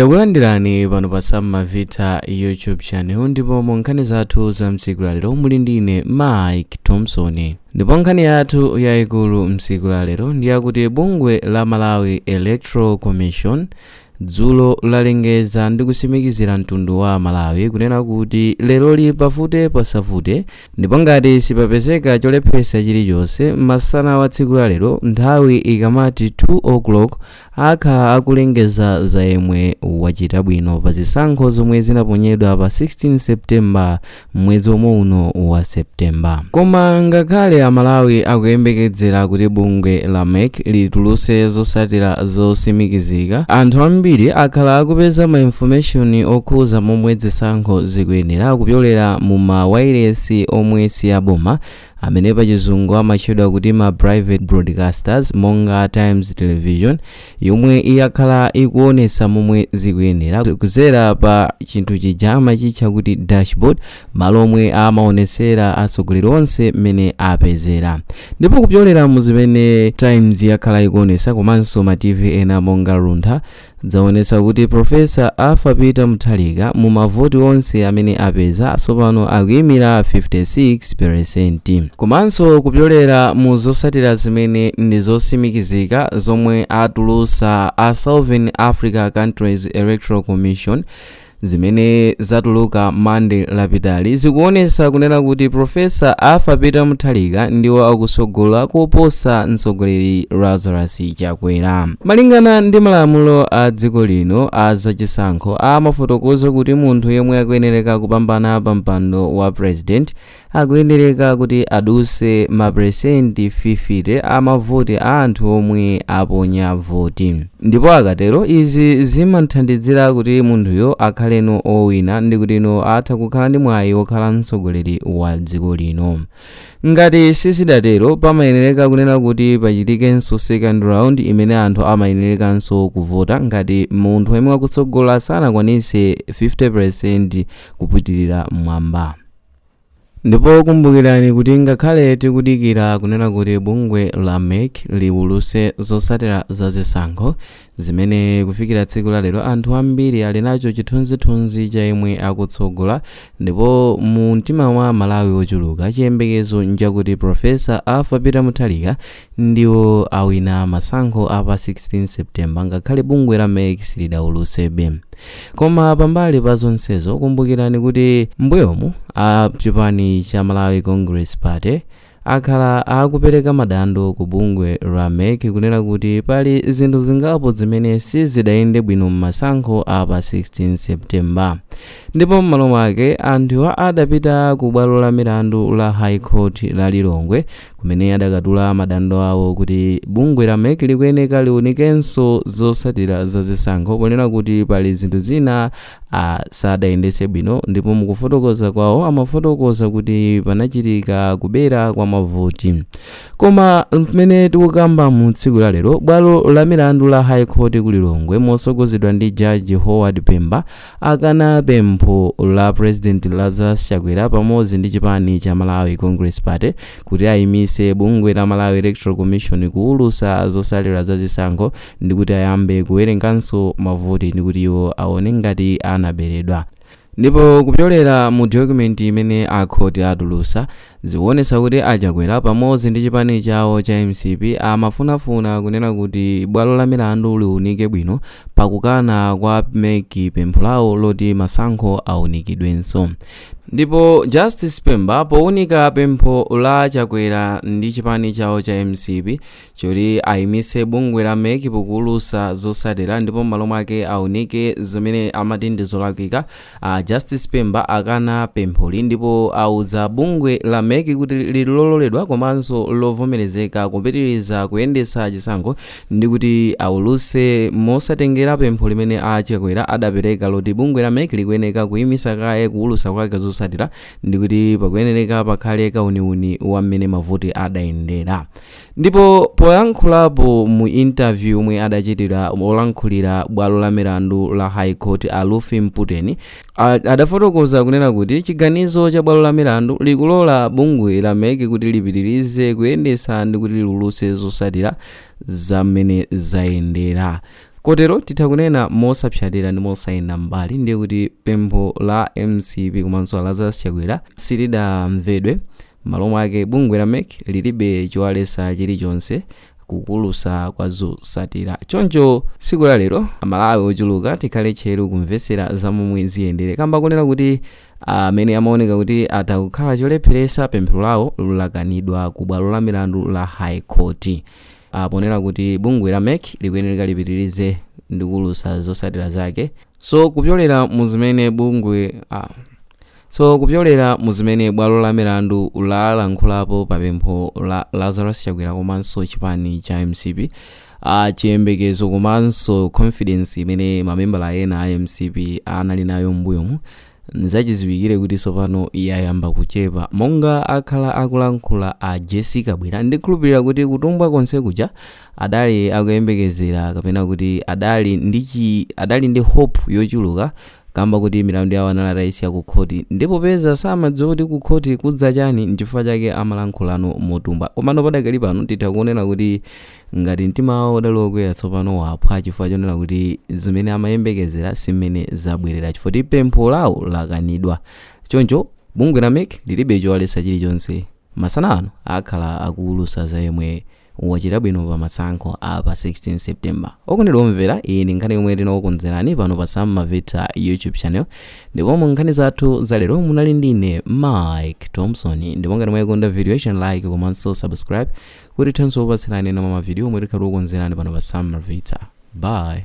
takulandirani pano pa samavita youtube channel ndipo mu nkhani zathu za mtsiku lalero muli ndi ine mike thompson ndipo nkhani yathu yayikulu mtsiku lalero ndi yakuti bungwe la malawi electoral commission dzulo lalengeza ndi kusimikizira mtundu wa malawi kunena kuti lero li pavute pasavute ndipo ngati sipapezeka cholepheresa chilichonse masana wa tsiku lalero nthawi ikamati 2 o'clock akhala akulengeza za yemwe wachita bwino pa zisankho zomwe zinaponyedwa pa 16 september mwezi omwe uno wa september koma ngakhale amalawi akuyembekezera kuti bungwe la mec lituluse zosatira zosimikizika anthu ambiri akhala akupeza ma information okhuza momwe zisankho zikuyendera kupyolera mu ma wailesi omwe si aboma amene pachizungu amatchedwa kuti ma private broadcasters monga times television yomwe yakhala ikuonesa momwe zikuyendera kuzera pa chinthu chija amachitcha kuti dashboard malo omwe amaonesera atsogoleri onse mmene apezera ndipo kupyolera mu zimene times yakhala ikuonesa komanso ma tv ena monga luntha Zaonetsa kuti Prof. Arthur Peter Mutharika mu mavoti onse amene apeza tsopano akuimira 56 peresenti. Komanso kupyolera mu zotsatira zimene ndi zotsimikizika zomwe atulutsa a Southern Africa Countries Electoral Commission, zimene zatuluka monday lapitali zikuonesa kunena kuti profesa arthur peter mutharika ndiwo akusogola koposa mtsogoleri lazarus chakwera malingana ndi malamulo a dziko lino a zachisankho amafotokoza kuti munthu yemwe akuyenereka kupambana pa mpando wa president akuyenereka kuti aduse maperesenti 50 a mavoti a anthu omwe aponya voti ndipo akatero izi zimathandizira kuti munthuyo akhaleno owina ndi kutino atha kukhala ndi mwayi wokhala mtsogoleri wa dziko lino ngati sizidatero pamayenereka kunena kuti pachitikenso second round imene anthu amayenerekanso kuvota ngati munthu yemwe akutsogola sanakwanise 50% kupitirira mwamba Ndipo kumbukirani kuti ngakhale tikudikira kunena kuti bungwe la mec liwuluse zosatira za zisankho, zimene kufikira tsiku la lero anthu ambiri ali nacho chithunzithunzi cha yemwe akutsogola ndipo mu mtima mwa amalawi ochuluka chiyembekezo nchakuti Prof. Arthur Peter Mutharika ndiwo awina masankho apa 16 september ngakhale bungwe la mec silidaulutsebe koma pambali pa zonsezo kumbukirani kuti mbuyomu a chipani cha malawi congress party akhala akupereka madando ku bungwe la mec kunena kuti pali zinthu zingapo zimene sizidayende bwino m'masankho apa 16 september ndipo m'malo mwake anthuwa adapita ku bwalo la milandu la high court la lilongwe kumene adakatula madando awo kuti bungwe la mec likuyeneka liunikenso zotsatira za zisankho ponena kuti pali zinthu zina a sadayendetse bwino ndipo mukufotokoza kwawo amafotokoza kuti panachitika kubera kwa mavoti koma mmene tikukamba mu tsiku la lero bwalo la milandu la high court ku lilongwe motsogozedwa ndi jaji howard pemba akana pempho la president Lazarus Chakwera pamodzi ndi chipani cha Malawi Congress Party kuti ayimitse bungwe la Malawi Electoral Commission kuwulutsa zotsatira za zisankho ndi kuti ayambe kuwerenganso mavoti ndi kuti iwo aone ngati anaberedwa ndipo kupyolera mu document imene akhoti atulutsa Zikuonetsa kuti a Chakwera pamodzi ndi chipani chawo cha mcp amafunafuna kunena kuti bwalo la milandu liunike bwino pakukana kwa mec pempho lawo loti masankho aunikidwenso. Ndipo Justice Pemba powunika pempho la Chakwera ndi chipani chawo cha mcp, choti ayimitse bungwe la mec pokuulutsa zotsatira ndipo m'malo mwake aunike zimene amati ndi zolakwika justice pemba akana pempholi ndipo auza bungwe la mec kuti lilololedwa komanso lovomerezeka kupitiriza kuyendetsa chisankho ndi kuti aulutse mosatengera pempho limene a chakwera adapereka loti bungwe la mec likuyeneka kuyimitsa kaye kuulutsa kwake zotsatira ndi kuti pakuyenereka pakhale kauniuni wa mmene mavoti adayendera ndipo poyankhulapo mu interview omwe adachitira olankhulira bwalo la milandu la high court a ruth mputeni a- adafotokoza kunena kuti chiganizo cha bwalo la milandu likulola bungwe la mec kuti lipitirize kuyendetsa ndi kuti liulutse zotsatira za mmene zayendera kotero titha kunena mosapsatira ndi mosayenda mbali ndiye kuti pempho la mcp komanso a lazarus chakwera silidamvedwe M'malo mwake, bungwe la mec lilibe chowaletsa chilichonse kukuulutsa kwa zotsatira. Choncho tsiku la lero a Malawi ochuluka tikhale tcheru kumvetsera za momwe ziyendere kamba konena kuti amene amaoneka kuti atha kukhala cholepheretsa pempho lawo lakanidwa ku bwalo la milandu la High Court ah, ponena kuti bungwe la mec likuyenereka lipitirize ndi kuulutsa zotsatira zake. So kupyolera mu zimene bungwe ah, So, kupyolera mu zimene bwalo la milandu lalankhulapo pa pempho la Lazarus Chakwera komanso chipani cha mcp chiyembekezo komanso confidence imene mamembala ena a mcp anali nayo m'mbuyomu nzachiziwikire kuti tsopano yayamba kuchepa monga akhala akulankhula a jessie kabwila ndikhulupirira kuti kutumbwa konse kuja adali akuyembekezera kapena kuti adali ndi chi adali ndi hope yochuluka kamba kuti milandu yawo anali atayisiya ku khoti ndipo poti samadziwa kuti ku khoti kudza chani nchifukwa chake amalankhula motumbwa komano padakali pano titha kuonera kuti ngati mtima wawo udali wokwera tsopano waphwa chifukwa chonena kuti zimene amayembekezera si mmene zabwerera chifukwa kuti pempho lawo lakanidwa choncho bungwe la mec lilibe chowaletsa chilichonse masana ano akhala akuulutsa za yemwe wachita bwino pa masankho a pa 16 september okondedwa omvera iyi ndi nkhani yomwe tinakukonzerani pano pa sam malvitha youtube channel ndipo mu nkhani zathu za lero munali ndine mike thompson ndipo ngati mwayikonda videoyi chitani like komanso subscribe kuti tithenso kupatsirani ena mwa mavidiyo omwe tikhala tikukonzerani pano pa sam malvitha bye